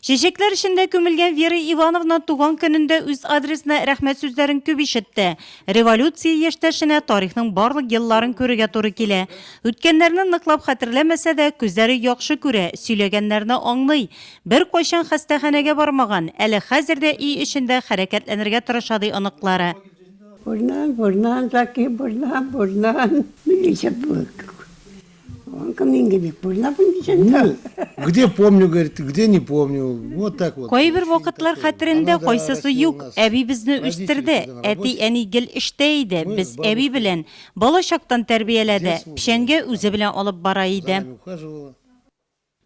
Чәчәкләр эчендә күмелгән Вера Ивановна туган көнендә үз адресына рәхмәт сүзләрен күп ишетте. Революция яшьтәшенә тарихның барлык елларын күрергә туры килә. Үткәннәрне ныклап хәтерләмәсә дә, күзләре яхшы күрә, сөйләгәннәрне аңлый. Беркайчан хастаханәгә бармаган, әле хәзер дә өй эчендә хәрәкәтләнергә тырыша, ди оныклары. Бурнан, бурнан, Закир бурнан, бурнан. Милиция булып Он ко мне не помню, Где помню, говорит, где не помню. Вот так вот. Кайбер вакытлар хәтерендә кайсысы юк. Әби безне үстерде. Әти әни гел эштә иде. Без әби белән бала чактан тәрбияләде. Печәнгә үзе белән алып бара иде.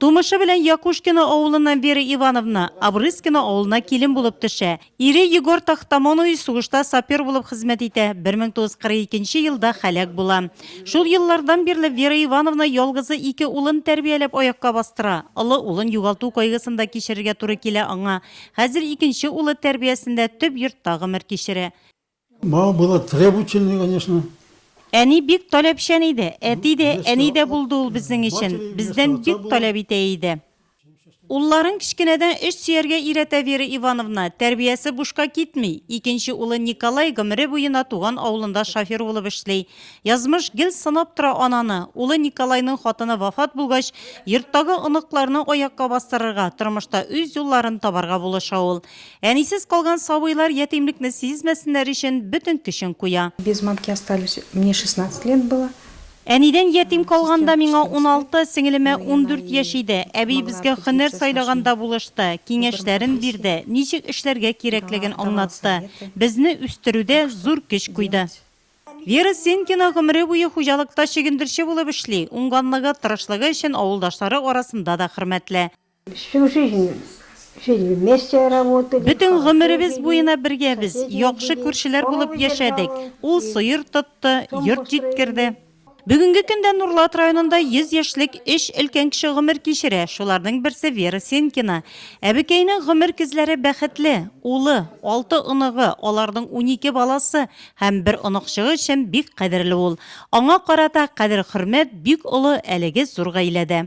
Тумышы белән Якушкино авылыннан Вера Ивановна Обрызкино авылына килен булып төшә. Ире Егор Тахтамонович сугышта сапер булып хезмәт итә, 1942 нче елда һәлак була. Шул еллардан бирле Вера Ивановна ялгызы ике улын тәрбияләп аякка бастыра. Олы улын югалту кайгысын да кичерергә туры килә аңа. Хәзер икенче улы тәрбиясендә төп йортта гомер кичерә. Моңа була требученный, конечно. Әни бик таләпчән иде, әти дә, әни дә булды ул безнең өчен, бездән бик таләп итә иде. Улларын кечкенәдән эш сөяргә өйрәтә Вера Ивановна, тәрбиясе бушка китми. Икенче улы Николай гомере буена туган авылында шофер булып эшли. Язмыш гел сынап тора ананы. Улы Николайның хатыны вафат булгач, йорттагы оныкларны аякка бастырырга, тормышта үз юлларын табарга булыша ул. Әнисез калган сабыйлар ятимлекне сизмәсеннәр өчен бөтен көчен куя. Без матки остались, мне шестнадцать лет было. Әнидән ятим калганда миңа уналты, сеңелемә ундүрт яшь иде. Әби безгә һөнәр сайлаганда булышты, киңәшләрен бирде, ничек эшләргә кирәклеген аңлатты, безне үстерүдә зур көч куйды. Вера Сенкина гомере буе хуҗалыкта чөгендерче булып эшли, уңганлыгы, тырышлыгы өчен авылдашлары арасында да хөрмәтле. Всю жизнь жили вместе, работали. Бөтен гомеребез буена бергәбез, яхшы күршеләр булып яшәдек. Ул сыер тотты, йорт җиткерде. Бүгенге көндә Нурлат районында 100 яшьлек өч өлкән кеше гомер кичерә, шуларның берсе Вера Сенкина. Әбекәйнең гомер көзләре бәхетле. Улы, алты оныгы, аларның унике баласы һәм бер оныкчыгы өчен бик кадерле ул. Аңа карата кадер-хөрмәт бик олы әлеге зур гаиләдә.